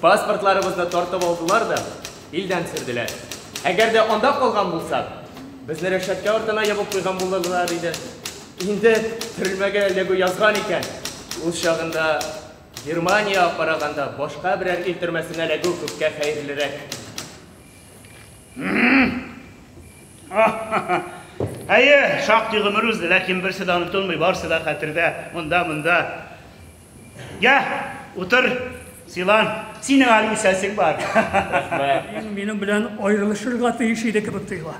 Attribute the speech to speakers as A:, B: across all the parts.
A: Паспортларыбызны тартып алдылар да, илдән сөрделәр. Әгәр дә анда калган булсак, безне рәшәткә артына ябып куйган булырлар иде. Инде төрмәгә эләгү язган икән. Ул чагында Германиягә караганда башка берәр ил төрмәсенә эләгү күпкә хәерлерәк.
B: Әйе, шактый гомер узды, ләкин берсе дә онытылмый, барысы да хәтердә, монда, монда. Йә, утыр, сыйлан. Синең әле үсәсең бар. Рәхмәт.
C: Минем белән аерылышырга тиеш иде кебек тоела.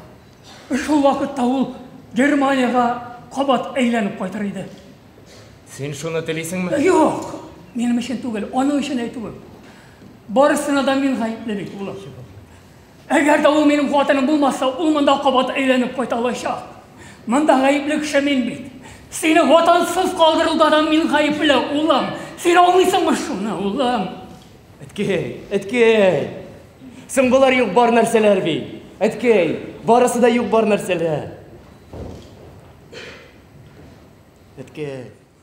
C: Шул вакытта ул Германиягә кабат әйләнеп кайтыр иде. Син
A: шуны телисеңме? Юк,
C: минем өчен түгел, аның өчен әйтүем. Барысына да мин гаепле бит, улым. Әгәр дә ул минем хатыным булмаса, ул монда кабат әйләнеп кайта алачак. Монда гаепле кеше мин бит. Сине хатансыз калдыруда да мин гаепле, улым. Син аңлыйсыңмы шуны, улым? Әткәй, әткәй.
A: Соң болар юк бар нәрсәләр бит. Әткәй, барысы да юк бар нәрсәләр. Әткәй.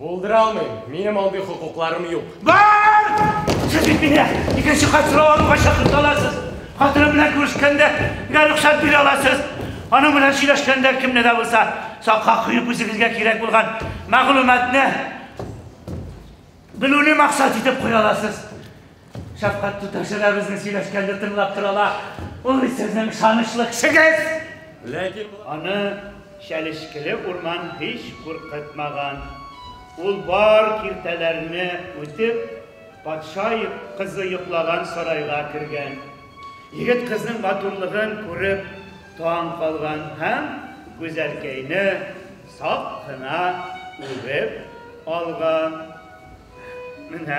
A: Булдыра алмыйм. Минем андый хокукларым юк. Бар!
B: Сез бит мине икенче кат сорау алуга чакырта аласыз. Хатыным белән күрешкәндә генә рөхсәт бирә аласыз. Аның белән сөйләшкәндә кемне дә булса сакка куеп үзегезгә кирәк булган мәгълүматны белүне максат итеп куя аласыз. Шәфкать туташы да безнең сөйләшкәнне тыңлап тора ла. Ул бит сезнең ышанычлы кешегез! Ләкин
A: аны
B: чәлешкеле урман һич куркытмаган. Ул бар киртәләрне үтеп, патша кызы йоклаган сарайга кергән. Егет кызның матурлыгын күреп таң калган һәм Гүзәлкәйне сак кына үбеп алган. Менә.